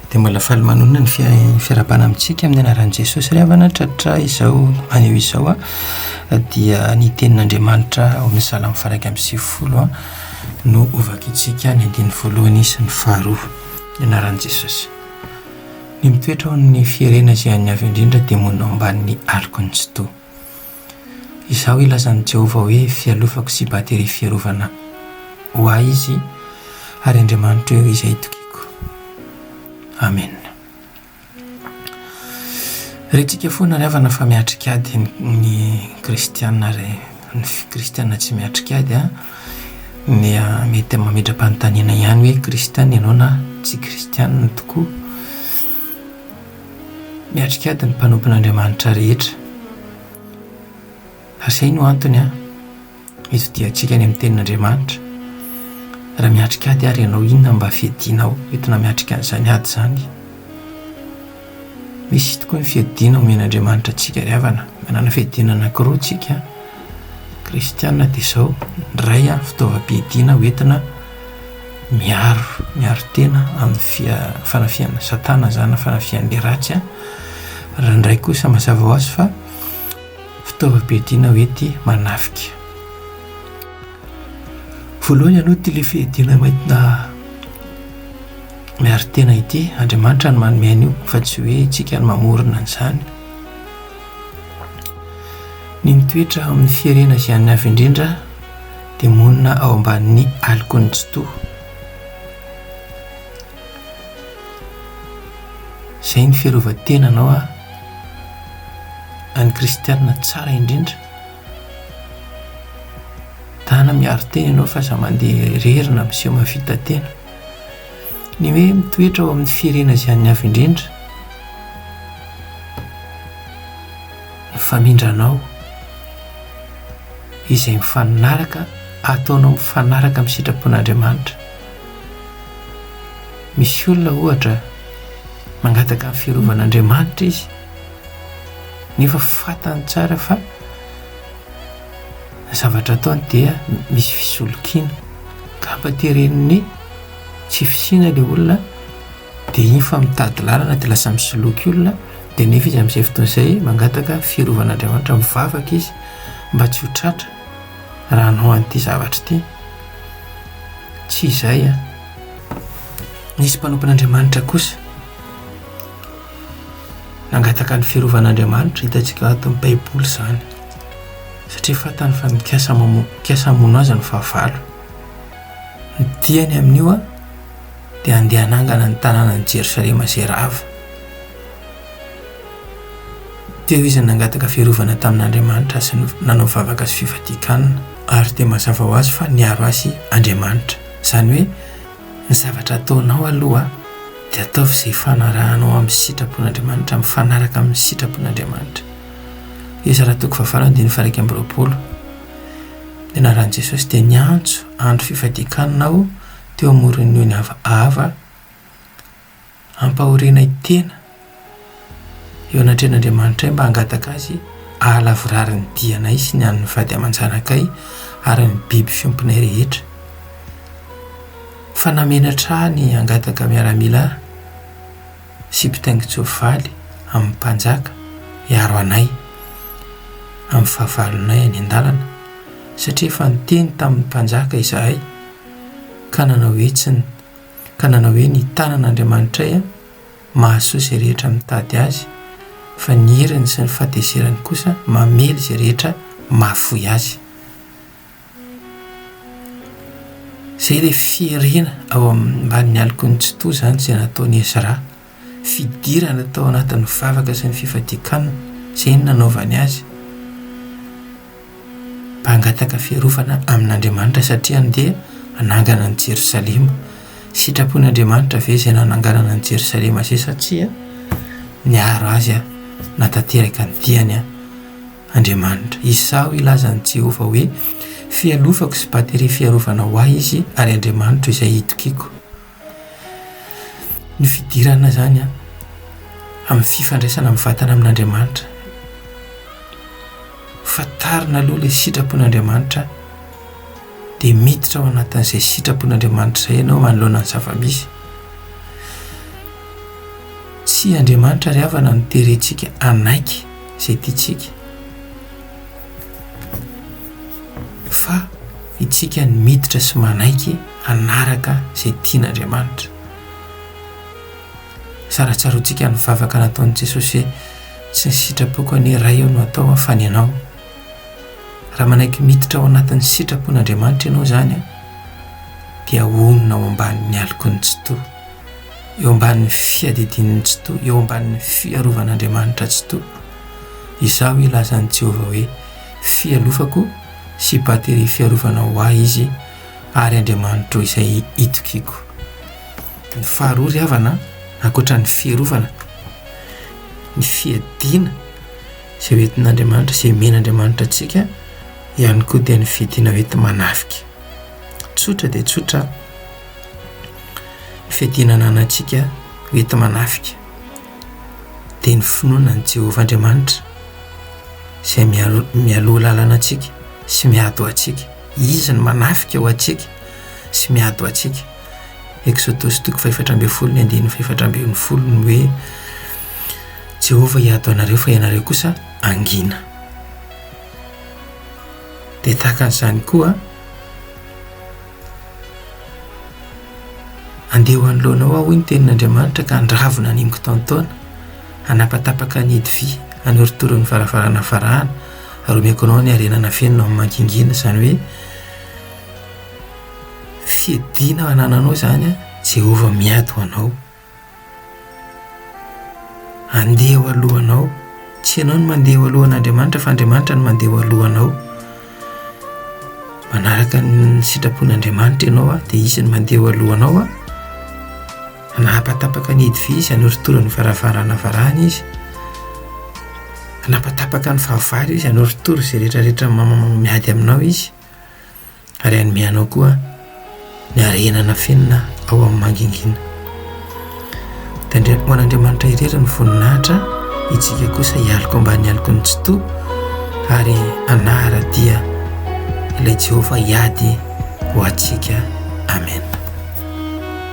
Dia mbola faly manonona ny fiarahabana amintsika amin'ny anaran'i Jesosy ry havana tratra izao anio izao a ah. dia ny tenin'Andriamanitra ao amin'ny salamo faraika amin'ny sivifolo a no hovakitsika ny andininy voalohany sy ny faharoa ny anaran'i Jesosy ny mitoetra ao amin'ny fierena izay an'ny avy indrindra dia monina ao ambanin'ny aloky ny tsitoha Izao ilazan'i Jehovah hoe fialofako sy bateria fiarovana ho ahy izy, ary Andriamanitro eo izay itokiako. Amena. Rentsika foana ry havana fa miatrika ady ny kristiana ary ny kristiana tsy miatrika ady dia mety mametra-panontaniana ihany hoe kristiana ianao na tsy kristiana tokoa. miatrika ady ny mpanompon'Andriamanitra rehetra. Ary izay no antony hitodiantsika any amin'ny Tenin'Andriamanitra. Raha miatrika ady àry ianao, inona no mba fiadianao entina miatrika an'izany ady izany? Misy tokoa ny fiadiana omen'Andriamanitra antsika ry havana. Manana fiadiana anankiroa isika kristiana, dia izao, ny iray fitaovam-piadiana hoentina Miaro, miaro tena amin'ny fia, fanafihan'i Satana izany na fanafihan'ilay ratsy an! Raha indray kosa mazava ho azy fa fitaovam-piadiana hoe ity manafika. Voalohany aloha ity ilay fiadiana maidina miaro tena ity, Andriamanitra no manome an'io fa tsy hoe isika no mamorona an'izany. Ny mitoetra amin'ny fierena izay an'ny avy indrindra dia monina ao ambanin'ny alokon'ny tsitoha. Izay ny fiarovan-tenanao an! An'ny kristianina tsara indrindra. Tana miaro tena ianao fa aza mandeha irery na miseho mahavita tena. Ny hoe mitoetra ao amin'ny fihirena izay an'ny avo indrindra no famindranao. izay mifanaraka ataonao mifanaraka amin'ny sitrapon'Andriamanitra. Misy olona ohatra mangataka ny firovan'Andriamanitra izy nefa fantany tsara fa ny zavatra ataony dia misy fisolokiana ka hampantereniny tsy fisiana ilay olona Dia iny fa mitady lalana dia lasa misoloky olona, dia nefa izy amin'izay fotoana izay mangataka firovan'Andriamanitra, mivavaka izy mba tsy ho tratra raha hanao an'ity zavatra ity. Tsy izay an! Nisy mpanompon'Andriamanitra kosa nangataka ny firovan'Andriamanitra, hitantsika ao anatin'ny Baiboly izany, satria fantany fa mikasa hamono azy ny fahavalo. Ny diany amin'io an, dia handeha hanangana ny tanànan'i Jerosalema izay rava. Teo izy nangataka fiarovana tamin'Andriamanitra sy nanao vavaka sy fifadian-kanina, ary dia mazava ho azy fa niaro azy Andriamanitra. Izany hoe ny zavatra ataonao aloha dia ataovy izay ifanarahanao amin'ny sitrapon'Andriamanitra mifanaraka amin'ny sitrapon'Andriamanitra. Ezra toko fahavalo andininy faha iraika amby roapolo. Ny anaran'i Jesosy dia niantso, andro fifadian-kanina aho. teo amoron'ny ony ava ava hampahorianay tena eo anatrehan'Andriamanitray mba hangataka Azy hahalavorary ny dianay sy ny an'ny vady aman-janakay ary ny biby fiompinay rehetra. Fa namenatra ahy ny hangataka miaramila sy mpitaingin-tsoavaly amin'ny mpanjaka hiaro anay amin'ny fahavalonay any an-dalana, satria efa niteny tamin'ny mpanjaka izahay, Ka nanao hoe tsy ny. Ka nanao hoe ny tanan' Andriamanitray an, mahasoa izay rehetra mitady Azy, fa ny heriny sy ny fahatezerany kosa mamely izay rehetra mahafoy Azy. Izay ilay fierena ao ambanin'ny aloky ny tsitoha izany izay nataon'i Ezra. fidirana tao anatin'ny vavaka sy ny fifadian-kanina, izay no nanaovany azy mba hangataka fiarovana amin'Andriamanitra satria andeha hanangana an'i Jerosalema. Sitrapon'Andriamanitra ve izay nananganana an'i Jerosalema izay sa tsia? Niaro azy hanatanteraka ny diany Andriamanitra. Izaho hilaza an'i Jehovah hoe, Fialofako sy bateri fiarovana ho ahy izy, ary Andriamanitro izay itokiako. Ny fidirana izany an, amin'ny fifandraisana mivantana amin'Andriamanitra, fantarina aloha ilay sitrapon'Andriamanitra, dia miditra ao anatin'izay sitrapon'Andriamanitra izay ianao manoloana ny zava-misy. Tsy Andriamanitra ry havana no terentsika hanaiky izay tiantsika, fa isika no miditra sy manaiky. hanaraka izay tian'Andriamanitra. Saratsaroantsika ny vavaka nataon'i Jesosy hoe, Tsy ny sitrapoko anie Ray o no atao fa ny Anao. Raha manaiky miditra ao anatin'ny sitrapon'Andriamanitra ianao izany, dia honina ao ambanin'ny alokin'ny Tsitoha, eo ambanin'ny fiadidian'ny Tsitoha, eo ambanin'ny fiarovan'Andriamanitra Tsitoha. Izao ilazan'i Jehovah hoe, Fialofako sy bateri fiarovana ho ahy izy, ary Andriamanitro izay itokiako. Ny faharoa ry havana an, ankoatra ny fiarovana, ny fiadiana izay ho entin'Andriamanitra, izay omen'Andriamanitra antsika ihany koa dia ny fiadiana ho enti-manafika. Tsotra dia tsotra ny fiadiana ananantsika ho enti-manafika, dia ny finoana an'i Jehovah Andriamanitra izay miaro- mialoha lalana antsika sy miady ho antsika. Izy no manafika ho antsika sy miady ho antsika. Eksodosy toko fahefatra ambin'ny folo ny andininy fahefatra ambin'ny folo ny hoe, Jehovah hiady ho anareo fa ianareo kosa hangina. Dia tahaka an'izany koa, Andeha ho anoloanao aho, hoy ny tenin'Andriamanitra, ka handravo ny animo kitaontaona, hanapatapaka ny hidi-vy, hanorotoro ny varavarana varahana, ary omeko anao ny harena nafenina ao amin'ny mangingina, izany hoe fiadiana anananao izany an, Jehovah miady ho anao, handeha eo alohanao, tsy ianao no mandeha eo alohan'Andriamanitra fa Andriamanitra no mandeha eo alohanao, manaraka ny sitrapon'Andriamanitra ianao an, dia Izy no mandeha eo alohanao an. Nampatapaka ny hidy vy izy hanoritora ny varavarana avarahana izy. Nampatapaka ny fahavalo izy hanoritora izay rehetrarehetra miady aminao izy, ary hanome anao koa ny harena nafenina ao amin'ny mangingina. Tandremo ho an'Andriamanitra irery ny voninahitra, itsika kosa hialoka ambany aloky ny tsitoha, ary anahara dia ilay Jehovah hiady ho antsika. Amen.